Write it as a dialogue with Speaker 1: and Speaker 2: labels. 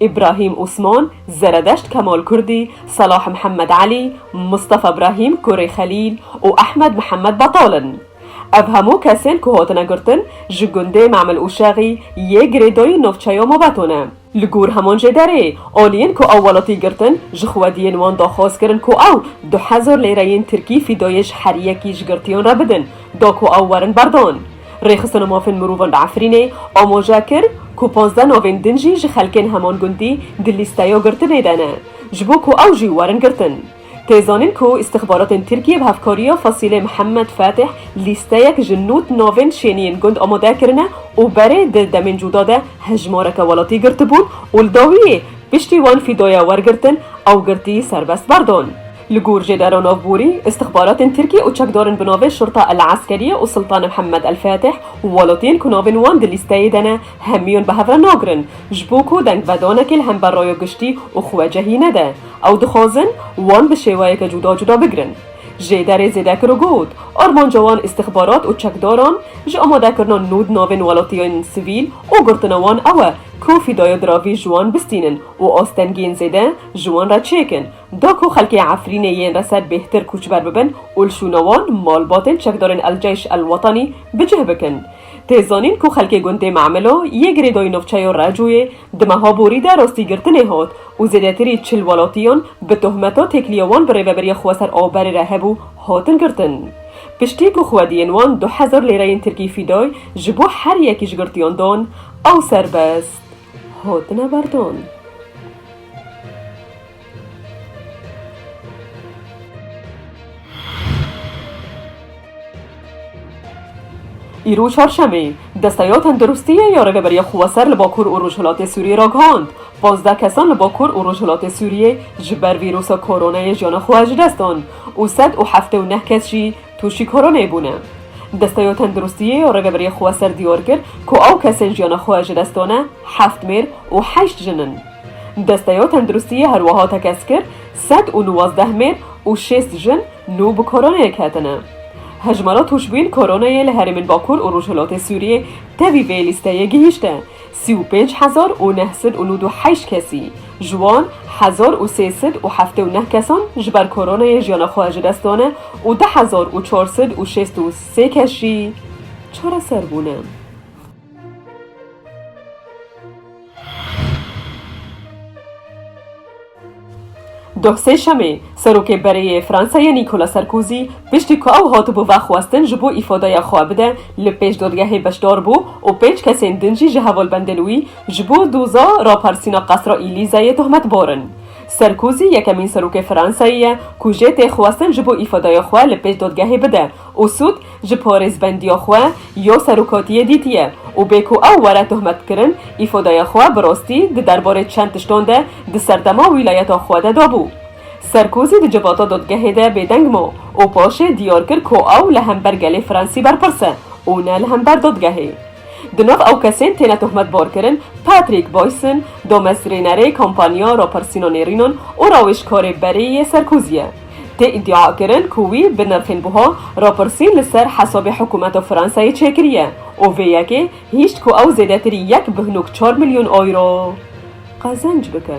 Speaker 1: Îbrahîm Osman, Zeredeşt Kemal Kurdî, Selah Mihemed Elî, Mistefa Brahîm, Kurê Xelîl û Ehmed Mihemed Betal in. Ev hemû kesên ku hatine girtin ji gundê Memil Ûşexî yê girêdayî navçeya Mobeto ne. Li gor heman jê derê, aliyên ku ew welatî girtin ji xwediyên wan daxwaz kirin ku ew du hezar lêreyên tirkî fîdayê ji herî yekî ji girtiyan re bidin, da ku ew werin berdan. Rêxistina Mafên Mirovan li Efrînê amoje kir ku pazdeh navên din jî ji xelkên heman gundî di lîsteya girtinê de ne ji bo ku ew jî werin girtin. Tê zanîn ku îstixbaratên Tirkiyê bi hevkariya Fasîlê Mihemed Fatîh lîsteyek ji nod navên şêniyên gund amade kirine û berê di demên cuda de hejmareke welatî girtibûn û li dawiyê piştî wan fîdaya wergirtin ew girtî serbest berdon. Li gor Jêdera Navborî, îstixbaratên Tirkî û çekdarên bi navê Şurta El Eskerîye û Sultan Mihemed El Fatih û welatiyên ku navên wan di lîsteyê de ne, hemûyan bi hev re nagirin. Ji bo ku dengvedanekê li hember raya giştî û xwecehî nede, ew dixwazin wan bi şêweyeke cuda cuda bigirin. Jêderê zêde kir û got, Armanca wan îstixbarat û çekdaran ji amadekirina nû di navên welatiyên sivîl û girtina wan ew e ku fîdaya diravî ji wan bistînin û astengiyên zêde ji wan re çêkin. Da ku xelkê Efrînê yên reser bêhtir kûçber bibin û li şûna wan malbatên çekdarên El Ceyş El Wetanî bi cih bikin. Tê zanîn ku xelkê gundê Memilo yê girêdayî navçeya Recûyê di meha borî de rastîgirtinê hat û zêdetirî çil welatiyan bi tohmeta têkiliya wan bi rêveberiya xweser a berê re hebû hatin girtin. Piştî ku xwediyên wan du hezar lêreyên tirkî fîday ji bo her yekî ji girtiyan dan ew serbest hatine berdan. Îro Çarşemê, Desteya Tendirustiyê ya Rêveberiya Xweser li Bakur û Rojhilatê Sûriyê ragihand, pazdeh kesan li Bakur û Rojhilatê Sûriyê ji ber vîrusa koronayê jiyana xwe ji dest dan û sed û heftê û neh kes jî tûşî koronayê bûne. Desteya Tendirustiyê ya Rêveberiya Xweser diyar kir ku ew kesên jiyana xwe ji dest dane heft mêr û heşt jin in. Desteya Tenduristiyê her wiha tekez kir, sed û nuwazdeh mêr û şêst jin nû bi koronayê ketine. Hejmara tûşbûyên koronayê li herêmên Bakur û Rojhilatê Sûriyê tevî vê lîsteyê gihîşte sî û pênc hezar û neh sed û nûd û heşt kesî, ji wan hezar û sê sed û heftê û neh kesan ji ber koronayê jiyana xwe ji dest dane û du hezar û çar sed û şêst û sê kes jî çareser bûne. Doh Sêşemê, Serokê Berê yê Fransayê Nîkola Serkôzî piştî ku ew hatibû vexwestin ji bo îfadeya xwe bide li pêş dadgehê beşdar bû û pênc kesên din jî ji hevalbendên wî ji bo doza raparsîna qasra Îlîzeyê tohmetbar in. Serkôzî yekemîn serokê Fransayê ye ku jê tê xwestin ji bo îfadeya xwe li pêş dadgehê bide û sûd ji porêzbendiya xwe ya serokatiyê dîtiye û bê ku ew were tohmetkirin, îfodeya xwe bi rastî di derbarê çend tiştan de di serdema wîlayeta xwe de dabû. Serkozî di civata dadgehê de bêdeng ma û paşê diyar kir ku ew li hember gelê Fransî berpirs e û ne li hember dadgehê. Di nav ew kesên têne tohmetbarkirin Patrick Boyson, damezrênerê kampanya Rapirsîna Nêrînan û rawêjkarê berê yê Serkozî ye. Tê îdiakirin ku wî bi nirxên buha rapirsîn li ser hesabê hikûmeta Fransayê çêkiriye û vê yekê hîşt ku ew zêdetirî yek bi hinok çar milyon euro qezenc bike.